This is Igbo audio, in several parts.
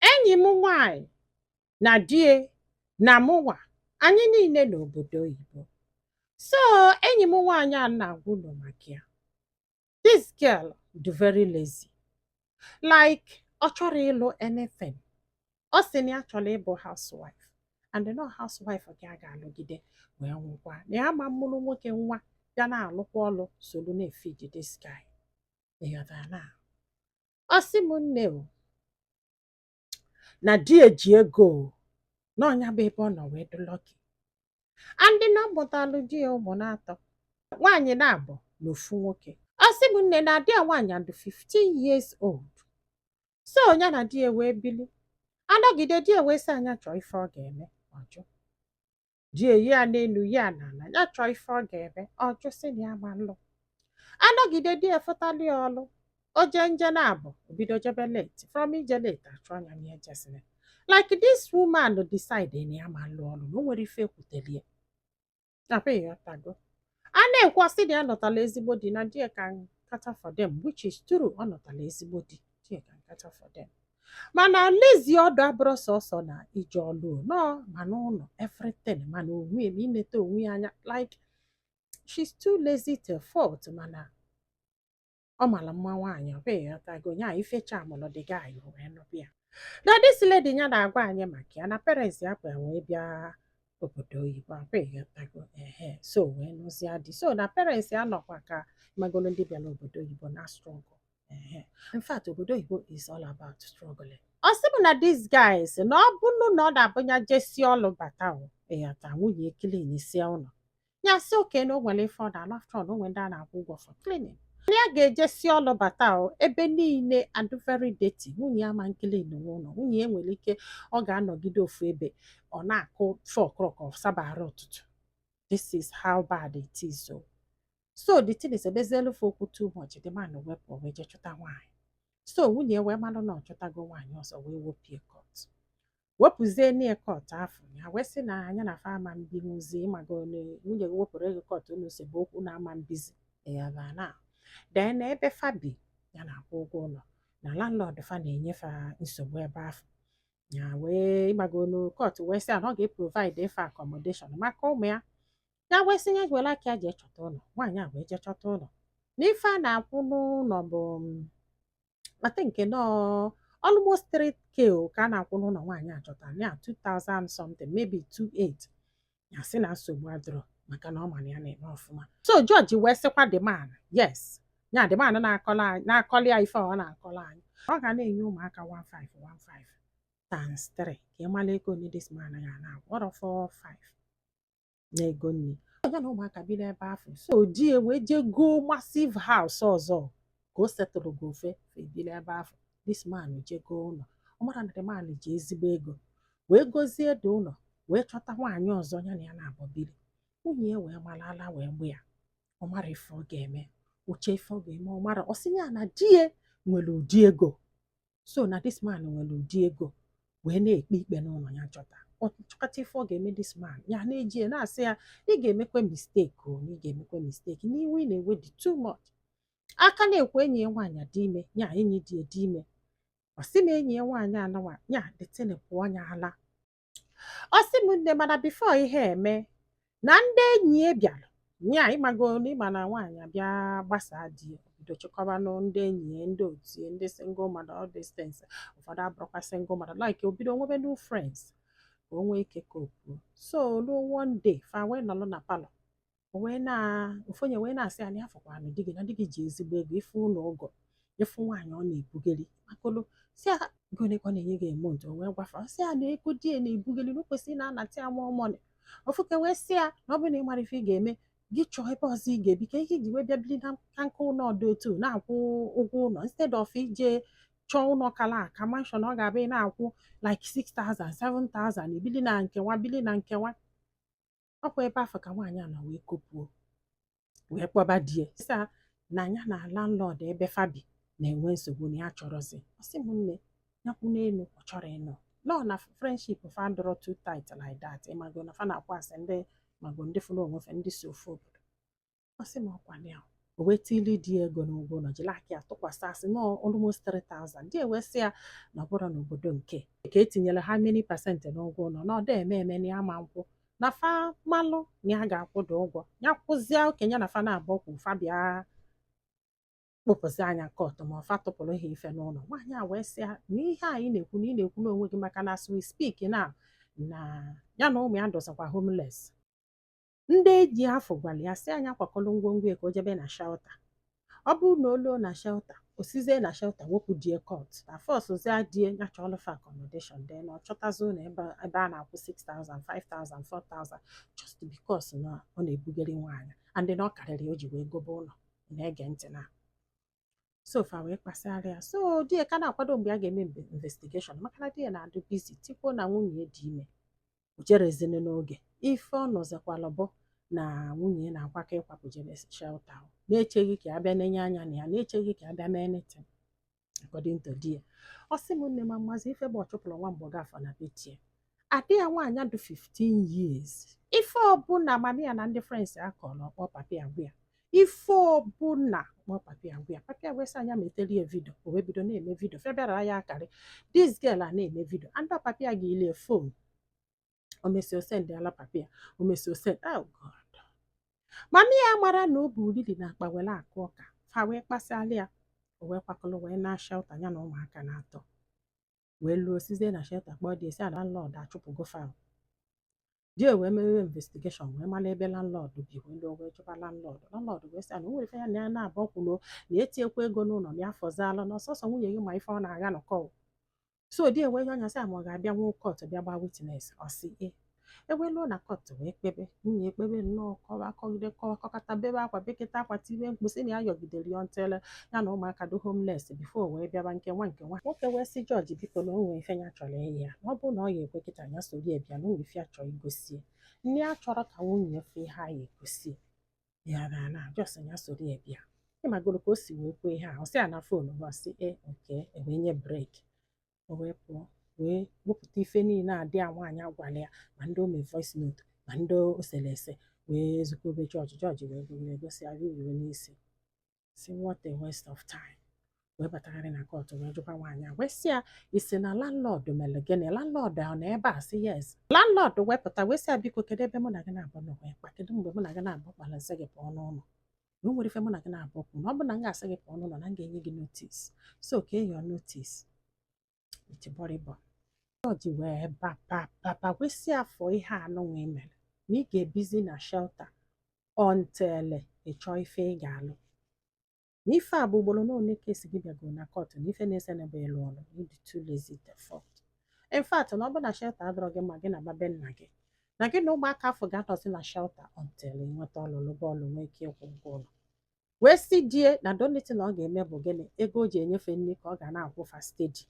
enyi m nwaanyị na di ya na mụnwa anyị niile n'obodo oyibo so enyi m nwaanyị a na-agwa unu maka ya this girl dị very lazy like ọ chọrọ ịlụ anything ọ sị na ya chọrọ ịbụ housewife and na housewife ka ya ga-alụgide wee nwụkwa na ya ama mụrụ nwoke nwa bịa na-alụkwa ọlụ solu na-efeed this guy ịghọtara na Ọ sị m nne o na di ya ji ego o na ọ nya bụ ebe ọ nọ wee dị lucky and na ọ mụtalụ di ya ụmụ naatọ nwaanyị naabọ na ofu nwoke ọ sị m nne na di ya nwaanyị adụ 15 years old so ya na di ya wee bili anọgide di ya wee sị a nya chọọ ife ọ ga-eme ọ jụ di ya yịọ n'elu yịọ n'ala ya chọọ ife ọ ga-eme ọ jụ sị na ya ama nlụ anọgide di ya fụtalị ya ọlụ o je nje naabọ o bido jebe late from ije late a chụọ nya na ejesịrị like this woman decide na ya ama nlụ ọlụ na o nwere ife e kwuteli ya abi ịghọtago a na-ekwu ọ sị na ya nụtala ezigbo di na di ya can cater for them which is true ọ nụtala ezigbo di di ya can cater for them mana lazy ọ dụ abụrọ sọsọ n'ije ọlụ no ma n'ụlọ everything ma n'onwe ya ma inete onwe ya anya like she's too lazy to a fault mana ọ mara mma nwaanyị ọ bụ ịghọtago nya ife charmụrụ the guy wee nụba ya na this lady ya na-agwa anyị maka ya na parents ya bu wee bịa obodo oyibo ọ bụ ịghọtago ehe so wee nụzia di so na parents ya nọkwa ka ịmagolu ndị bịara obodo oyibo na-astruggle ehe in fact obodo oyibo is all about struggling ọ sị m na this guy sị na ọ bụrụ na ọ na-abụ ya jesi ọlụ bata o ịghọta nwunye ya cleanisi ụlọ ya sị okay na o nwere ife ọ na-alụ after all na o nwere ndị a na-akwụ ụgwọ for cleaning nya ga-ejesi ọlụ bata o ebe niile adụ very dirty nwunye ya ama ncleaninwu ụlọ nwunye ya nwere ike ọ ga-anọgide ofu ebe ọ na-akụ four o'clock ọ sabarọ arụ ụtụtụ this is how bad it is o so the thing esebezielu fa okwu too much the man wee pụọ wee jee chọta nwaanyị so nwunye ya wee malụ na ọ chọtago nwaanyị ọzọ wee wepụ ya court wepụzie nya court afụ ya wee sị na nya na fa ama mbinwuzi ịmago na nwunye gị wepụrụ gị court unu sebe okwu na ama mbizi ya bụ na then na ebe fa bi ya na-akwụ ụgwọ ụlọ na landlord fa na-enye fa nsogbu ebe afụ ya wee ịmago na court wee sị a na ọ ga-eprovide fa accommodation maka ụmụ ya ya wee sị ya gwela ka ya jee chọta ụlọ nwaanyị a wee jee chọta ụlọ na ife a na-akwụ n'ụlọ bụ mm, I think na almost 3k o ka a na-akwụ n'ụlọ nwaanyị a chọtara 2000 something maybe 28 ya sị na nsogbu adịrọ maka na ọ ma na ya na-eme ọfụma so judge wee sịkwa the man yes ya the man na-akọli ya ife ọ na-akọli anyị ọ ga na-enye ụmụaka 1515 times 3 ka ị mara ego one this man ga na-akwụ ọrọ 45 na ego nri ya na ụmụaka bi n'ebe afụ so di ya wee jee goo massive house ọzọ ka o settlego fa ebili n'ebe afụ this man jee goo ụlọ ọ mara na the man ji ezigbo ego wee gozie the ụlọ wee chọta nwaanyị ọzọ ya na ya na-abọ biri nwunye ya wee mara ala wee gba ya ọ marọ ife ọ ga-eme o chee ife ọ ga-eme ọ marọ ọ sị ya na di ya nwere ụdị ego so na this man nwere ụdị ego wee na-ekpe ikpe n'ụlọ ya chọta ọ chọkata ife ọ ga-eme this man ya na-eji ya na-asị ya ị ga-emekwe mistake o na ị ga-emekwe mistake n'iwe ị na-ewe dị too much a ka na-ekwu enyi ya nwaanyị dị ime ya enyi di ya dị ime ọ sị na enyi ya nwaanyị anawa ya the thing pụọ ya ala ọ sị m nne mana before ihe eme na ndị enyi ya bịara ya ị mago na ị ma na nwaanyị abịa gbasaa di ya bido chịkọbanụ ndị enyi ya ndị otu ya ndị single mother all these things ụfọdụ abụrụkwa single mother like o bido nwebe new friends ka o nwee ike kopuo so ruo one day fa wee nọrọ na palọ o wee na ofu onye wee na-asị ya na ya fụkwara na di gị na di gị ji ezigbo ego ị fụ ụlọ ọ go ị fụ nwaanyị ọ na-ebugeli makolo sị ya ego one ka ọ na-enye gị a month o wee gwa fa sị ya na ego di ya na-ebugeli na o kwesịrị na-anata ya more money ofu ka wee sị ya na ọ bụrụ na ị mara ife ị ga-eme gị chọọ ebe ọzọ ị ga-ebi kee ihe i ji wee bịa biri na nka nka ụlọ dị otu a na-akwụ ụgwọ ụlọ instead of ị je chọọ ụlọ kala aka mansion ọ ga-abụ ị na-akwụ like 6000 7000 i bili na nke a bili na nke a ọkwa ebe afụ ka nwaanyị a nọ wee kopuo wee kpọba di ya sị ya na ya na landlord ebe fa bi na-enwe nsogbu na ya chọrọzi ọ sị m nne ya kwụ n'elu ọ chọrọ ịnọ nọ na friendship fa adịrọ too tight like that ị mago na fa na-akwa asị ndị mago ndị fụrụ onwe fa ndị si ofu obodo ọ sị m ọkwa ya o wee tili di ya ego n'ụgwọ ụlọ jiri aka ya tụkwasị ya sị na almost 3000 di ya wee sị ya na ọ bụrọ n'obodo nke a ka etinyere how many percent n'ụgwọ ụlọ na ọ da eme eme na ya ma nkwụ na fa malụ na ya ga-akwụ the ụgwọ ya kwụzie okay ya na fa na-abụ kwụ fa bịa kpụpụzie ya court ma fa tụpụrụ ha ife n'ụlọ nwaanyị a wee sị ya na ihe a ị na-ekwu na ị na-ekwu n'onwe gị maka na as we speak na na ya na ụmụ ya dịzikwa homeless ndị enyi afụ gwara ya sị ya kwakọrọ ngwongwo ya ka o jebe na shelter ọ bụrụ na o luo na shelter o sizie na shelter wepụ di ya court na forcezie di ya ya chọọlụ fa accommodation then ọ chọtazi ụlọ ebe ebe a na-akwụ 6000 5000 4000 just because na ọ na-ebugharị nwaanyị and na ọ karịrị ya o ji wee gobe ụlọ ị na-ege ntị na so fa wee kpasịara ya so di ya ka na-akwado mgbe a ga-eme mbe- investigeshọn maka na di ya na-adụ bizi tikwuo na nwunye ya dị ime o jerezini n'oge ife ọ nụzikwala bụ na nwunye ya na-akwakọ ịkwapụ jebe shelta ahụ na-echeghị ka a bịa nenye anya na ya na-echeghị ka a bịa mee anything according to di ya ọ sị m nne m amazi ife bụ ọchụpụrụ nwa mgbọga afọ na betie ada ya nwaanyị dị 15 years ife ọbụla mami ya na ndị friends ya kọrọ ọ kpọọ papi ya gwa ya ife ọbụla ọ kpọọ papi ya gwa ya papi ya gwa sị ya nya meteli ya vidio o wee bido na-eme vidio fa bịara akarị this girl a na-eme vidio and papi ya goli ya fon o mesịa ọ sendala papi ya o mesịa ọ send oh god mami ya amara na o bu uriri n'akpa were akụ ọka fa wee kpasịala ya o wee kwakọrọ wee naa shelta ya na ụmụaka naatọ wee luo sizie na shelta kpọọ di ya sị ya na landlord achụpụgo fa di ya wee mewe investigeshọn wee mara ebe landlord bi wee luo wee jụba landlord landlord wee sị na o nwere ife ya na ya naabọ kwulu na e tiekwa ego n'ụlọ na ya fọzalụ na ọ sọsọ nwunye gị ma ife ọ na-aga nọkọ so di ya wee yọọ ya sị ya ma ọ ga-abịanwu kọt bịa gbaa witness ọ sị ee e wee luo na kọt wee kpebe nwunye ya ekpebe nnọọ kọwa kọgide kọwa kọkata bebe akwa beketa akwa tibe mkpu sị na ya yọgidere ya until ya na ụmụaka dị homeless before wee bịaba nke nwa nke nwa nwoke wee sị jọji biko na o nwe ife ya chọrọ ịyọ ya na ọ bụrụ na ọ ya-ekwe kịta ya soro ya bịa na o nwe ife ya chọrọ igosi ya na ya achọrọ ka nwunye ya fụ ihe a ya-egosi ya na na just ya soro ya bịa ị magoro ka o si wee kwuo ihe a ọ sị ya na fon ọ sị ee oke e wee nye breki o wee pụọ wee wepụta ife niile ada ya nwaanyị gwala ya ma ndị o me voice note ma ndị o sere ese wee zikọbe jọji jọji wee gụgide gụsịa ruru n'isi sị what a waste of time wee batagharị na kọtụ wee jụkwa nwaanyị a wee sị ya ị sị na landlord mere gịnị landlord ọ nọ ebe a sị yes landlord wee pụta wee sị ya biko kedu ebe mụ na gị naabọ nọ wee kpa kedu mgbe mụ na gị naabọ kpara m sị gị pụọ n'ụlọ na o nwere ife mụ na gị naabọ kwu na ọ bụ na m ga-asị gị pụọ n'ụlọ na m ga-enye gị notis so kee your notis itibọrịbọ jọji wee baba mba wee sị ya fụ ihe a nụnwa i mere na ị ga-ebizi na shelta until ị chọọ ife ị ga-alụ na ife a bụ ugboro na ole ka e si gị bịago na kọt na ife na-ese ụnụ bụ ịlụ ọlụ ị dị too lazy to a fault in fact na ọ bụ na shelta adụrọ gị mma gị naba be nna gị na gị na ụmụaka afụ ga-anọzi na shelta until ị nweta ọlụ bụ ọlụ nwee ike ịkwụ ụgwọ ụlọ wee sị di ya na the only thing ọ ga-eme bụ gịnị ego o ji enye fa nri ka ọ ga na-akwụ fa steady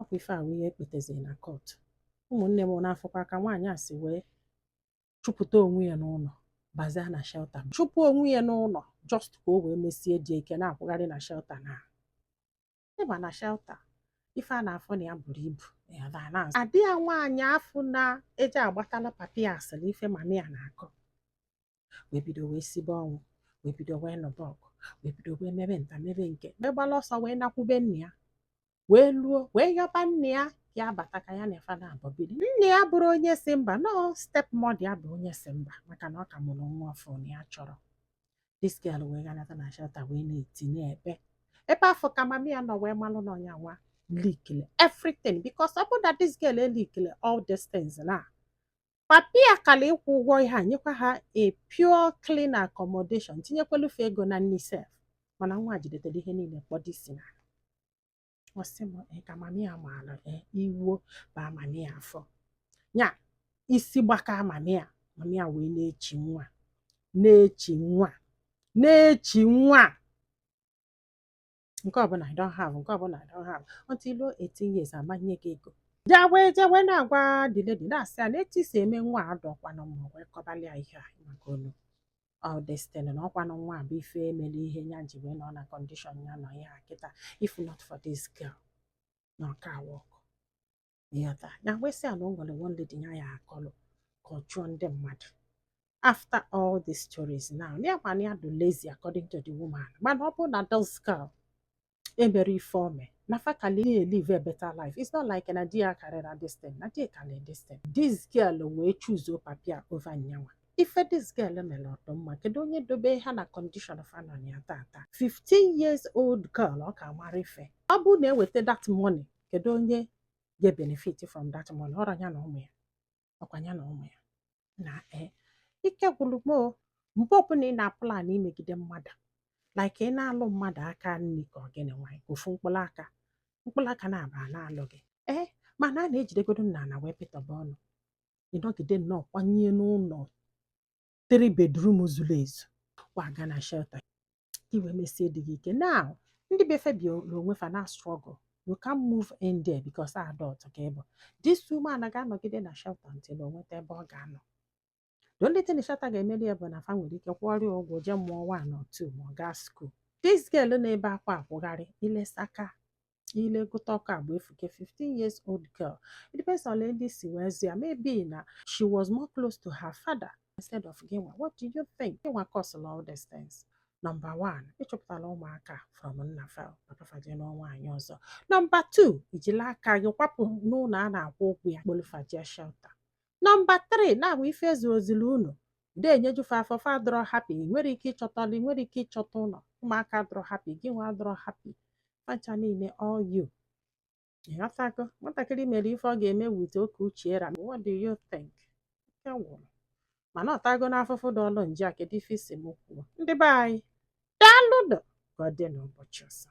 ọkwa ife a wụ ihe e kpeteziri na kọtụ ụmụnne m na-afụkwa ka nwaanyị a si wee chụpụta onwe ya n'ụlọ bazia na shelta chụpụ onwe ya n'ụlọ just ka o wee mesie di ya ike na-akwụgharị na shelta na ịma na shelter ife a na-afụ na ya buru ibu ada ya nwaanyị afụ na-eje agbatala papi ya asịrị ife mami ya na-akọ wee bido wee sibe ọnwụ wee bido wee nụba ọgụ wee bido wee mebe nta mebe nke megbala ọsọ wee nakwube nna ya wee luo wee yọba nna ya ya bata ka ya na fa naabọ biri nna ya bụrụ onye sị mba no stepmother ya bụ onye sị mba maka na ọ ka mụrụ nwa ọfụụ na ya achọrọ this girl wee ganata na shelter wee na-eti na-ebe ebe afụ ka mami ya nọ wee malụ na ọ nyanwa leakile everything because ọ bụ na this girl eleakile all these things na papi ya kala ịkwụ ụgwọ ihe a nyekwa ha a pure clean accommodation tinyekwalụ fa ego na nni sef mana nwa a jidetere ihe niile kpọdo isi ana ọ sị m ee ka mami ya maara ee iwe baa mami ya afọ ya isi gbaka mami ya mami ya wee na-echi nwa na-echi nwa na-echi nwa nke ọbụla I don't have nke ọbụla I don't have until i luo 18 years ama m enye gị ego je wee je wee na-agwa the lady na-asị ya na etu i si eme nwa a adọkwanụ mma wee kọbalị ya ihe a maka olu ọ destiny na ọ kwanụ nwa a bụ ife emere ihe ya ji wee nọ na condition ya nọ ya kịta if not for this girl na ọ ka a-work ịghọta ya wee sị ya na o nwere one lady ya ya akọlụ ka ọ chụọ ndị mmadụ after all the stories now ya ma na ya adọ lazy according to the woman mana ọ bụrụ na this girl emere ife o me na fa kali i-live a better life it's not like na di ya karịra this thing na di karịrị this thing this girl wee choosuo papi ya over nyanwa ife this girl mere ọ dụ mma kedu onye dobe ha na condition fa nọ na ya tata 15 years old girl ọ ka mara ife ọ bụ na e weta that money kedu onye ga-benefit from that money ọrọ ya na ụmụ ya ọkwa ya na ụmụ ya na ee ike gwụrụ m o mgbe ọbụla ị na-aplan imegide mmadụ like ị na-alụ mmadụ aka nri ka ọ gịnị nwanyị ka ofu mkpụrụ aka mkpụrụ aka naabọ na-alụ gị ee mana a na-ejidegodo nna na wee pịtọba ọnụ ị nọgide nnọọ kwanye n'ụlọ three bedroom zuru ezu kwaga na shelter ka i wee mesie di gị ike now ndị be fa bi na onwe fa na-astruggle you can move in there because adult ka ị bụ this woman ga-anọgide na shelter until o nweta ebe ọ ga-anọ the only thing shelter ga-emeli ya bụ na fa nwere ike kwụọrọ ya ụgwọ jee mụọ one or two ma ọ gaa school this girl na-ebe akwa akwụgharị ilesaka ile gụta ọkọ agba efuke 15 years old girl it depends on ndị si wee zụ ya maybe na she was more close to her father instead of gịnwa what do you think gịnwa causelụ all these things number 1 ị chụpụtala ụmụaka from nna fa papa fa jee nụọ nwaanyị ọzọ number 2 i jila aka gị kwapụ n'ụlọ a na-akwụ ụgwọ ya kpọlụ fa jee shelter Number three, na-abụ ife ezuoziri unu de enyeju fa afọ fa adịrọ happy ị nwere ike ịchọta ọlụ ị nwere ike ịchọta ụlọ ụmụaka adịrọ happy gị nwa adịrọ happy fa ncha niile all you ịghọtago nwatakịrị mere ife ọ ga-eme with oke uche era what do you think ike gwụrụ mana ọtago n'afụfụ dị ọlụ nje a kedu ife ị sị m kwuo ndị be anyị daalụnụ ka ọ dị n'ụbọchị ọzọ